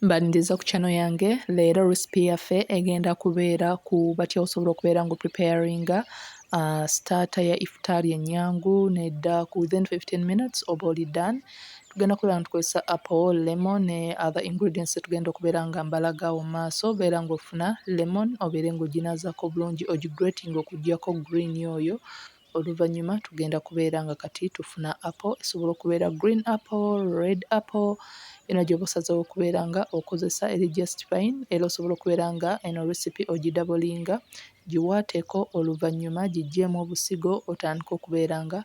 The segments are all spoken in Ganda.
Mbaniriza ku channel yange leero recipe yaffe egenda kubeera ku batya osobola okubeera nga preparinga uh, starter ya iftar enyangu nedda ku within 15 minutes oba oli done tugenda kubeera nga tukozesa apple lemon ne other ingredients tugenda okubeera nga mbalaga awo maaso beera nga ofuna lemon obeere nga oginazako obulungi ogigrating okugyako green oyo Oluvannyuma tugenda kubeera nga kati tufuna apo esobola okubeera green apo, red apo yona gyoba osazewo okubeera nga okozesa eri just fine era osobola okubeera nga eno recipe ogidabolinga giwaateko oluvannyuma giggyemu obusigo otandike okubeera nga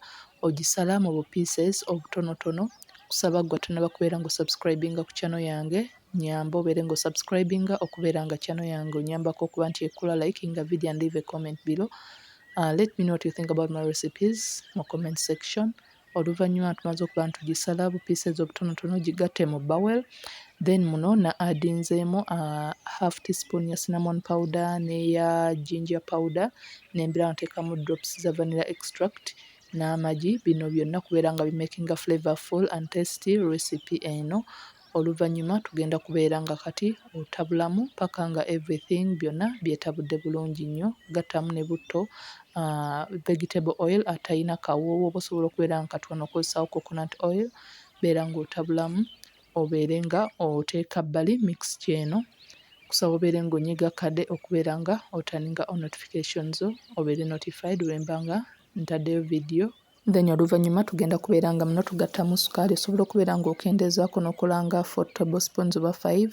ogisala mu bu pieces obutonotono. Nkusaba ggwe atonaba kubeera nga osubscribinga ku channel yange. Nyamba obeere nga osubscribinga okubeera nga channel yange onyambako okuba nti ekula likinga video and leave a comment below uh, let me know what you think about my recipes mu comment section oluvannyuma tumaze okuba ntugisala bu pieces obutonotono gigatte mu bowel then muno na adinzeemu uh, half teaspoon ya cinnamon powder neya ginger powder nembira nteekamu drops za vanilla extract n'amagi bino byonna kubeera nga bimakinga flavorful and tasty recipe eno oluvanyuma tugenda kubeera nga kati otabulamu paka nga everything byona byetabudde bulungi nnyo gattamu ne butto vegetable oil atayina kawoowo oba osobola okubeera nga kati wano okozesawo coconut oil beera nga otabulamu obeere nga oteeka bbali mixture eno kusaba obeere nga onyiga kade okubeera nga otaninga o notification zo obeere notified bwemba nga ntaddeyo video then oluvannyuma tugenda kubeera nga muno tugattamu sukaali osobola okubeera ng'okendeezaako n'okola nga four table spoons oba five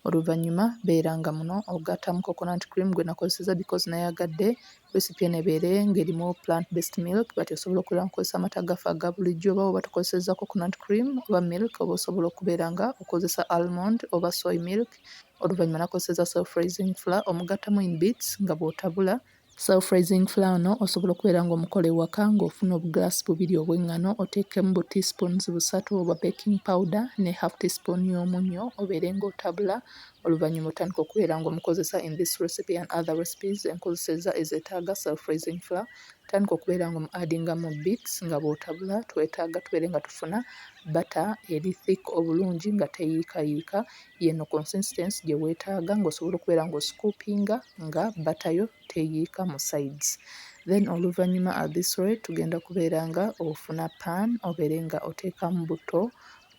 oluvannyuma beera nga muno ogattamu coconut cream gwe nakozeseza because nayagadde recipe eno ebeere ng'erimu plant based milk but osobola okubeera nkukozesa amata gaffe aga bulijjo oba oba tukozeseza coconut cream oba milk oba osobola okubeera nga okozesa almond oba soy milk oluvannyuma nakozeseza self raising fla omugattamu in bits nga bw'otabula Self raising flour no osobola okubeera nga omukola ewaka nga ofuna obu glass bubiri obw'engano oteekemu bu tea spoons busatu obwa baking powder ne half tea spoon y'omunnyo obeere nga otabula oluvannyuma otandike okubeera nga omukozesa in this recipe and other recipes enkozeseza ezetaaga self raising flour tandika okubeera nga omu addinga mu beats nga bw'otabula twetaaga tubeere nga tufuna butter eri thick obulungi nga teyiikayiika Y'eno consistency gye weetaaga ng'osobola okubeera ng'osikuupinga nga bbata yo teyiika mu sides. Then oluvannyuma at this rate tugenda kubeera nga ofuna pan obeere nga oteekamu butto.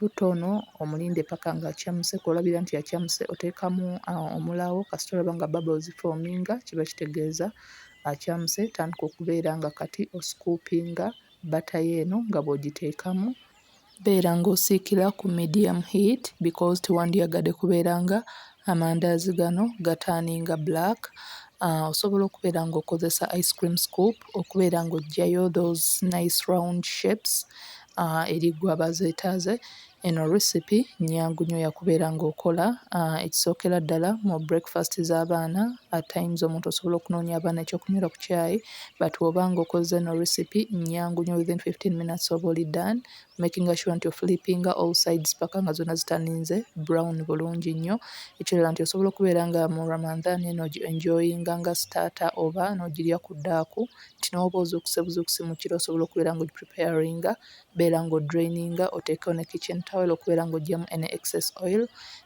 Butto ono omulinde paka ng'acamuse, kw'olabira nti acamuse oteekamu uh, omulaawo kasita olaba nga bubbles zifoominga kiba kitegeeza acamuse. Tandika okubeera nga kati osikuupinga bbata yo eno nga bw'ogiteekamu Beera ng'osiikira ku medium heat because tewandyagadde kubeera nga amandaazi gano gataaninga black. Uh, osobola okubeera ng'okozesa ice cream scoop okubeera ng'oggyayo those nice round shapes uh, eri gwe aba zeetaaze. Eno recipe nnyangu nnyo yakubeera ng'okola uh, ekisookera ddala mu breakfast z'abaana at times omuntu osobola okunoonya abaana ekyokunywera ku caayi but bwoba nga okozze no recipe nyangu nyo within 15 minutes oba oli done making sure nti oflippinga all sides paka nga zona zitaninze brown bulungi nnyo ekirala nti osobola okubeera nga mu ramanthan eno gi enjoyinga nga starter oba nogirya ku daaku nti nowoba ozuukuse buzuukusi mu kiro osobola okubeera nga ogipreparinga beera nga odraininga oteekewo ne kitchen towel okubeera nga ojjamu any excess oil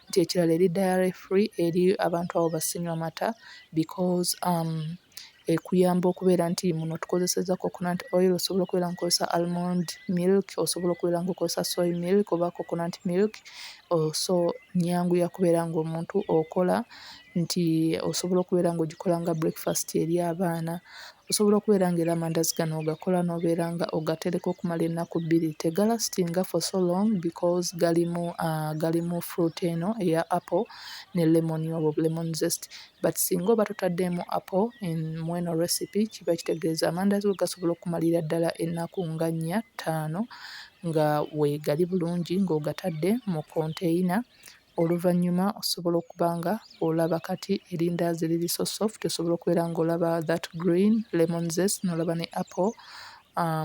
nti ekirala eri diary free eri abantu abo basinywa mata because um, ekuyamba okubeera nti muno tukozesezza coconut oil osobola okubeera nga okozesa almond milk osobola okubeera nga okozesa soy milk oba coconut milk oh so nnyangu ya kubeera ng'omuntu okola nti osobola okubeera ng'ogikola nga breakfast eri abaana osobola okubeera nga era amandazi gano ogakola n'obeera nga ogatereka okumala ennaku bbiri tegalastinga for so long because galimu ah, galimu fruit eno eya apple ne lemon obo lemon zest but singa oba totademu apple in mweno recipe kiba kitegeza amandazi go gasobola okumalira dala enaku nga nya tano nga wegali bulungi nga ogatade mu container oluvanyuma osobola okuba nga olaba kati elindazi lili so soft osobola okubeera nga olaba that green lemon zest nolaba ne apple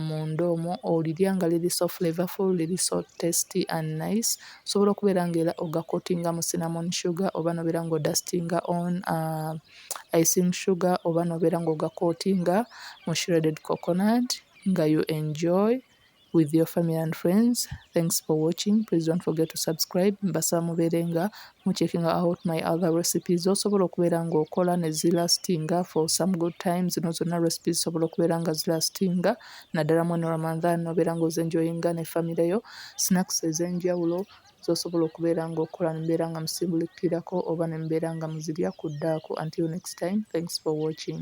munda omwo olirya nga liri so flavorful, liri so tasty and nice. Osobola okubeera nga era ogakotinga mu cinnamon sugar oba n'obeera nga odasitinga on icing sugar oba n'obeera nga ogakotinga mu shredded coconut nga you enjoy with your family and friends. Thanks for watching. Please don't forget to subscribe. Mbasaba mubeere nga mu checking out my other recipes osobola okubeera ng'okola ne zilastinga for some good times zino zonna recipes zisobola okubeera nga zilastinga naddala mweno ramadhan obeera ng'ozenjoyinga ne famire yo snacks ez'enjawulo zosobola okubeera ng'okola nembeera nga musimbulukirako oba nembeera nga muzirya ku ddaaku until next time thanks for watching